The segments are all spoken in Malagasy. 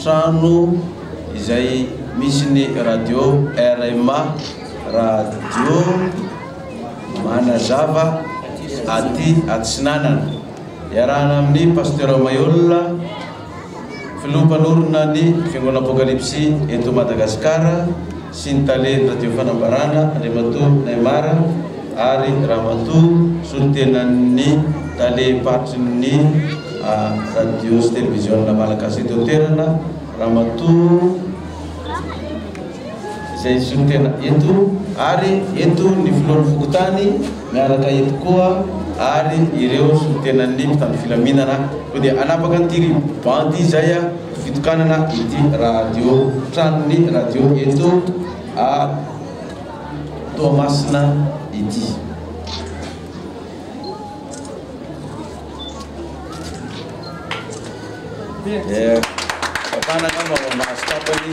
Trano izay misy ny radio rma Radio Manazava aty Atsinanana. Iarahana amin'ny Pasteur Maihol, Filoha Mpanorina ny Fiangonana Apokalipsy eto Madagasikara. sy ny talen'ny Radio Fanambarana Andriamatoa Neymar ary Ramatoa solontenan'ny Talem-paritry ny Radio sy Televiziona Malagasy eto an-toerana Ramatoa izay solontena eto ary eto ny Filohan'ny Fokontany miaraka eto koa ary ireo solontenan'ny mpitandro filaminana koa dia hanapaka an'ity ribo-bandy izay aho. fitokanana ity radio tranon'ny radio eto a Toamasina ity. Vatana angamba ao ambany tapany.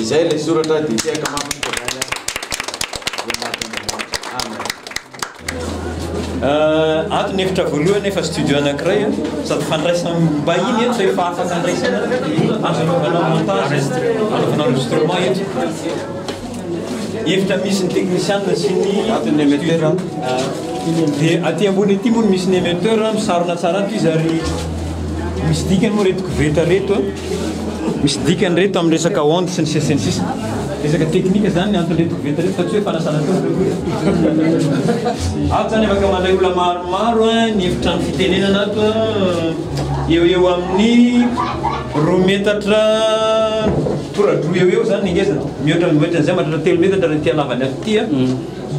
Izay ilay soratra dia tehaka mafy ny Fivavahana izay mahatr'Andriamanitra. Amen. Ah, ato ny efitra voalohany efa studio anankiray a, ah. sady fandraisam-bahiny eto zay efa afaka andraisana azo anaovana montage, anaovana enregistrement eto. Efitra misy ny teknisianina sy ny ato ny émetteur. Ah. Dia aty ambony aty moa misy ny émetteur, misarona tsara ato izy ary misy dikany moa reto koveta reto a. Misy dikany ireto amin'ny resaka ondes sy ny sisa sy ny sisa. Resaka teknika izany ny anton'ireto koveta ireto fa tsy hoe fanasana tongotra. Ato izany afaka mandray olona maromaro an, ny efitrano fitenenana ato an, eo eo amin'ny roa metatra toradroa eo eo izany ny ngezany. Mihoatra mihoatra an'izay mahatratra telo metatra raha ity halavany ato ity an,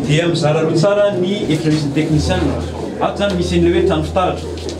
dia mizara roa tsara ny efitra misy ny teknisianina. Ato izany misy an'ilay hoe trano fitaratra.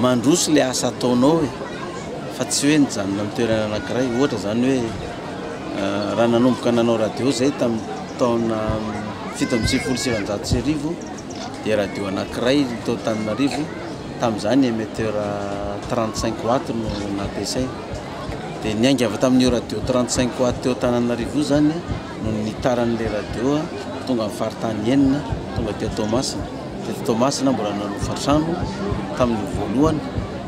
Mandroso ilay asa ataonao e! Fa tsy hoe nijanona amin'ny toerana anankiray. Ohatra izany hoe raha nanomboka nanao radio izahay tamin'ny taona fito amby sivifolo sy sivanjato sy arivo dia radio anankiray tao Antananarivo, tamin'izany ny emetteur trente cinq watts no nampiasaina. Dia niainga avy tamin'io radio trente cinq watts teo Antananarivo io izany no nitaran'ilay radio tonga amin'ny faritany enina, tonga aty Toamasina. Teto Toamasina mbola nanao hofantrano tamin'ny voalohany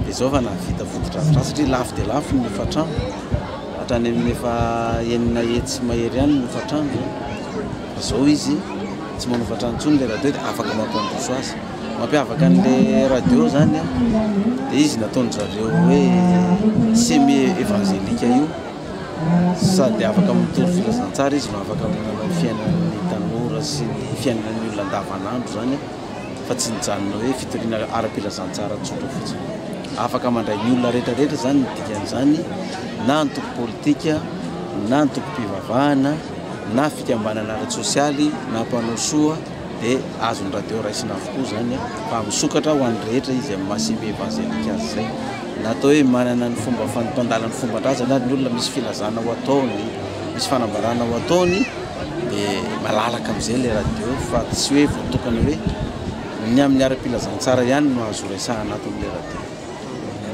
dia izao efa nahavita fotodrafitrasa satria lafo dia lafo ny hofantrano, hatrany amin'ny efa enina hetsy mahery any ny hofantrano izao. Fa izao izy tsy manao hofantrano intsony ilay radio dia afaka mampandroso azy. Mampiavaka an'ilay radio izany dia izy nataon-dry zareo hoe semi-evangelique io. Sady afaka mitory filazantsara izy no afaka manana ny fiainan'ny tanora sy ny fiainan'ny olona andavanandro izany fa tsy nijanona hoe fitoriana ara-pilazantsara tsotra fotsiny. Afaka mandray ny olona rehetrarehetra izany ny dikan'izany, na antoko politika, na antokom-pivavahana, na fikambanana ara-tsosialy, na mpanao soa dia azon'ny radio raisina avokoa izany fa misokatra ho an'ny rehetra izy amin'ny maha-CBEvangelique azy izay. Na atao hoe manana ny fomba fanotan-dalany ny fomban-drazany ary ny olona misy filazana ho ataony, misy fanambarana ho ataony dia malalaka amin'izay ilay radio fa tsy hoe voatokana hoe ny amin'ny ara-pilazantsara ihany no azo horesahana ato amin'ilay radio.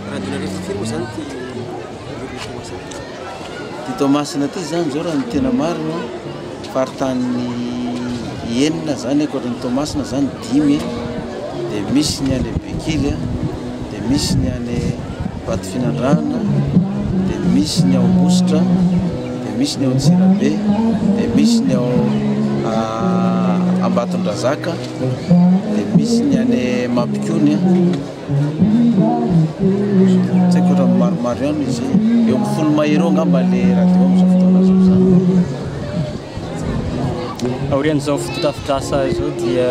Raha adinonareo tsy firy moa izany ity radio misy anao izany? Ty Toamasina ty zany zao raha ny tena marina faritany enina zany ankoatra ny Toamasina zany dimy de misy ny any Bekily a de misy ny any Vatofinandrahana de misy ny ao Ambositra de misy ny ao Antsirabe de misy ny ao Ambatondrazaka de misy ny any Mampikony a Tsy haiko ohatran'ny maromaro ihany izy. Eo amin'ny folo mahery eo angamba ilay radio amin'izao fotoana izao izany. Aorian'izao fotodrafitrasa izao dia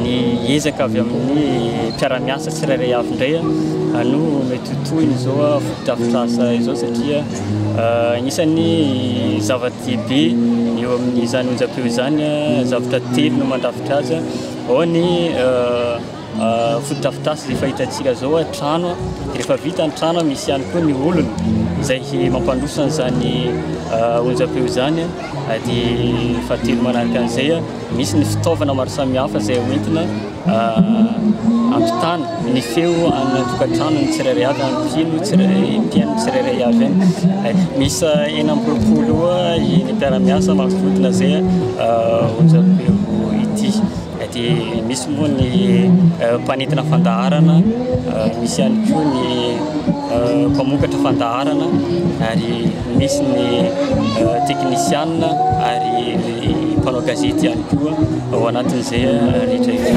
ny ezaka avy amin'ny mpiara-miasa tsirairay avy indray no mety ho tohiny izao fotodrafitrasa izao satria anisan'ny zava-dehibe eo amin'izany onjampeo izany zavatra telo no mandrafitra azy. Ao ny Fotodrafitrasa izay fahitantsika izao trano, dia rehefa vita ny trano misy ihany koa ny olona izay mampandroso an'izany onjam-peo izany, dia fahatelo manaraka an'izay misy ny fitaovana maro samihafa izay hoentina hampitana ny feo any an-tokantranon'ny tsirairay avy, any mpino tsirairay, mpihaino tsirairay avy any. Miisa enina amby roapolo eo ny mpiara-miasa manodidina izay onjam-peo ity. dia misy moa ny mpanintona fandaharana, misy ihany koa ny mpamokatra fandaharana, ary misy ny teknisianina ary ny mpanao gazety ihany koa ao anatin'izay rehetra izay.